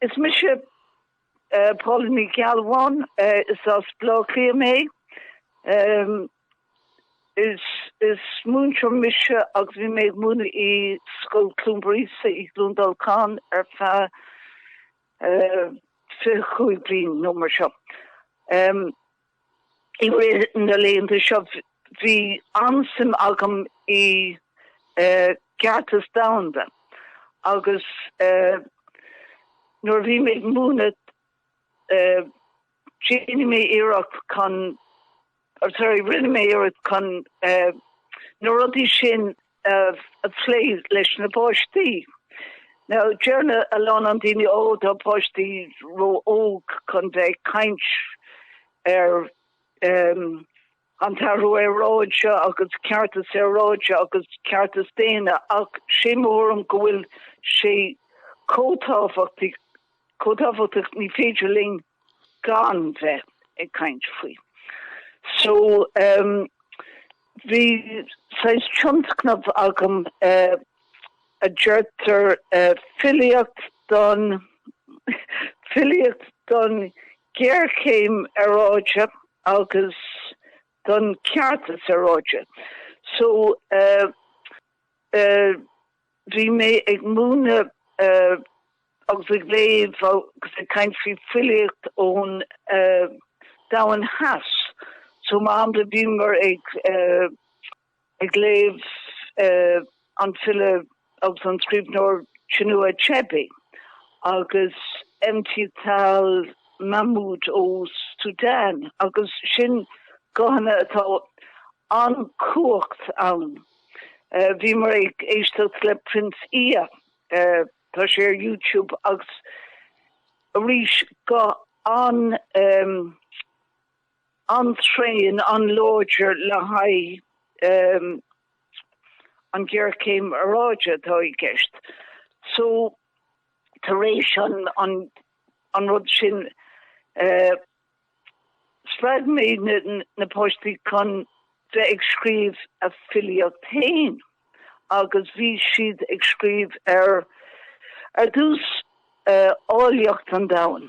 Is mise Paula Ní Ghealbháin, is as Bleá Cliath mé. Is múinteoir mise agus bhí mé ag múineadh i Scoil Cluain Breise i gCluain Dolcáin ar feadh 25 bliain nó mar sin. I rith na laethanta seo bhí an-suim agam i gCeartas Domhanda agus nuair a bhí mé ag múineadh déanfaidh mé iarracht chun, sorry, rinne mé iarracht chun na rudaí sin amh a phlé leis na páistí. Now deireann a lán daoine ó tá páistí ró óg chun bheith ag caint ar em an t-athrú aeráide agus ceartas aeráide agus ceartas daonna ach sé mo thuairim go bhfuil sé chomh tábhachtach Chomh tábhachtach, ní féidir linn gan bheith ag caint faoi. So, bhí saghas tionscnamh agam a deirtear filíocht don filíocht don ghéarchéim aeráide agus don cheartas aeráide. So, Bhí mé ag múineadh agus ag léamh agus ag caint faoi filíocht ón domhain theas so mar shampla bhíomar ag léamh an file agus an scríbhneoir Chinua Achebe agus Emtithal Mahmoud ó Sudan agus sin guthanna atá an chumhacht ann. Bhíomar ag éisteacht le Prince Ea, tá sé ar YouTube agus arís go an-tréan, an-láidir le haghaidh an ghéarchéim aeráide atá i gceist. So tar éis an rud sin, Spreag mé na páistí chun bheith ag scríobh a filíocht féin agus bhí siad ag scríobh ar dtús áilleacht an domhain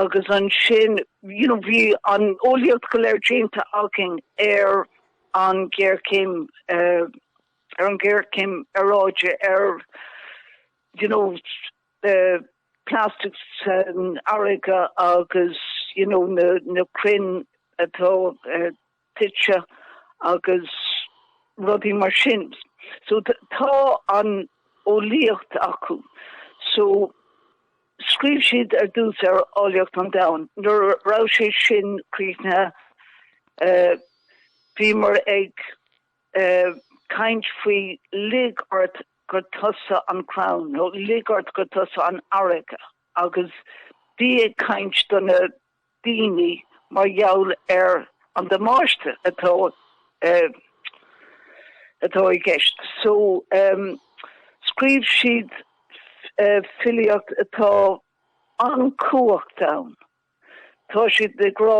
agus ansin you know bhí an eolaíocht go léir déanta againn ar an ghéarchéim ar an ghéarchéim aeráide ar you know plastic san fharraige agus you know na crainn atá tite agus rudaí mar sin. So tá an eolaíocht acu. So scríobh siad ar dtús ar áilleacht an domhain. Nuair raibh sé sin críochnaithe bhíomar ag ag caint faoi 'lig ort gur tusa an crann' nó 'lig ort gur tusa an fharraige' agus bhí ag caint do na daoine mar gheall ar an damáiste atá atá i gceist. So scríobh siad filíocht atá an-chumhachtach ann. Tá siad ag rá.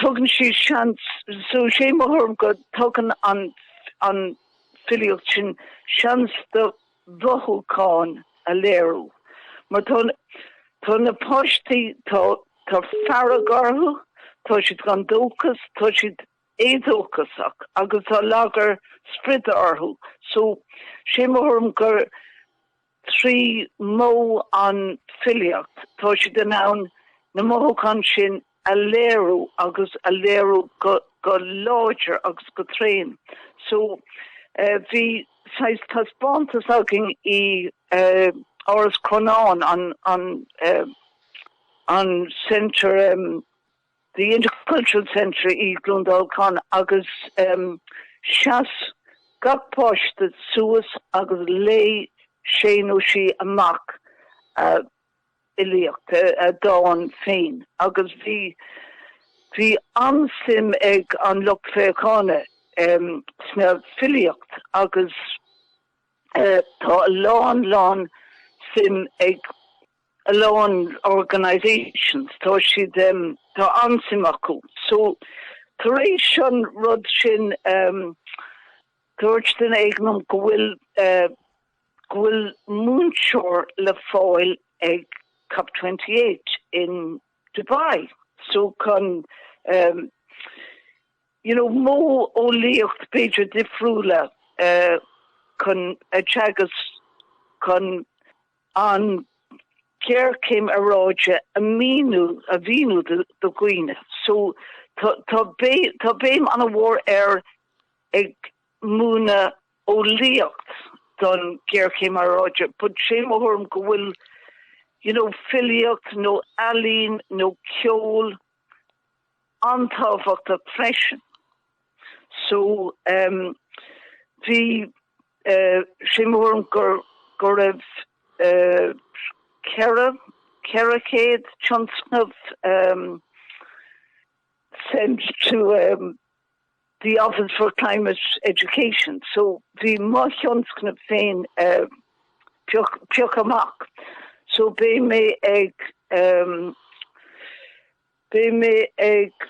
Tugann sí seans, so 'sé mo thuairim go dtugann an filíocht sin seans do mothúcháin a léiriú mar tá tá na páistí, tá fearg orthu, tá siad gan dóchas, tá siad éadóchasach agus tá lagar spride orthu. So, 'sé mo thuairim gur. Trí mhodh an filíocht, tá siad in ann na mothúcháin sin a léiriú agus a léiriú go láidir agus go tréan. So, bhí saghas taispeántas againn i Áras Chronáin, an Centre, The Intercultural Centre i Clondalkin agus sheas gach páiste suas agus léigh sé nó sí amach a fhilíocht, a dán féin agus bhí bhí an-suim ag an lucht féachána sna filíocht agus tá a lán lán suim ag a lán organisations, tá siad, tá an-suim acu. So, tar éis an rud sin, dúirt duine éigin liom go bhfuil, go bhfuil múinteoir le fáil ag cop twenty eight in Dubai. So, chun, you know, modheolaíocht b'fhéidir difriúla chun a teagasc, chun. an géarchéim aeráide a míniú, a mhíniú do dhaoine. So tá tá béim ana mhór ar ag múineadh eolaíocht don géarchéim aeráide but sé mo thuairim go bhfuil you know filíocht nó ealaín nó ceol an-tábhachtach freisin. So um, bhí Sé mór an go raibh ceithre chéad tionscnamh sent to the Office for Climate Education so bhí mo thionscnamh féin pioc amach so beidh mé ag Beidh mé ag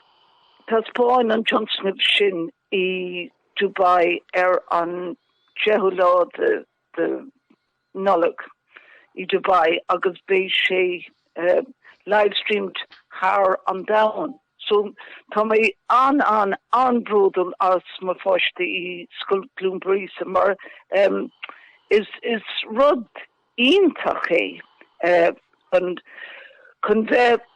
taispeáint an tionscnamh sin i Dubai ar an 10ú lá de Nollaig i Dubai agus beidh sé livestreamed thar an domhan. So tá mé an an an-bródúil as mo pháistí i Scoil Clonburris mar is rud iontach é chun chun bheith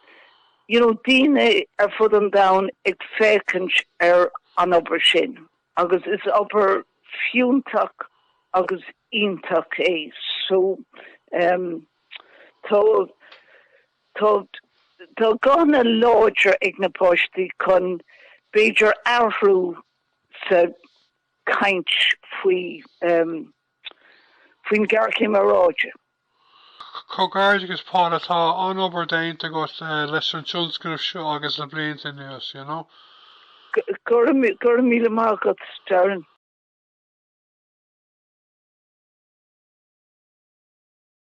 you know daoine ar fud an domhain ag féachaint ar an obair sin agus is obair fiúntach agus iontach é so em tá tá tá guthanna láidir ag na páistí chun b'fhéidir athrú sa chaint faoi em faoin ghearchéim aeráide. Comhghairdeachas Paula, tá an-obair déanta agat leis an tionscnamh seo agus le blianta anuas. Go raibh míle maith agat Darren.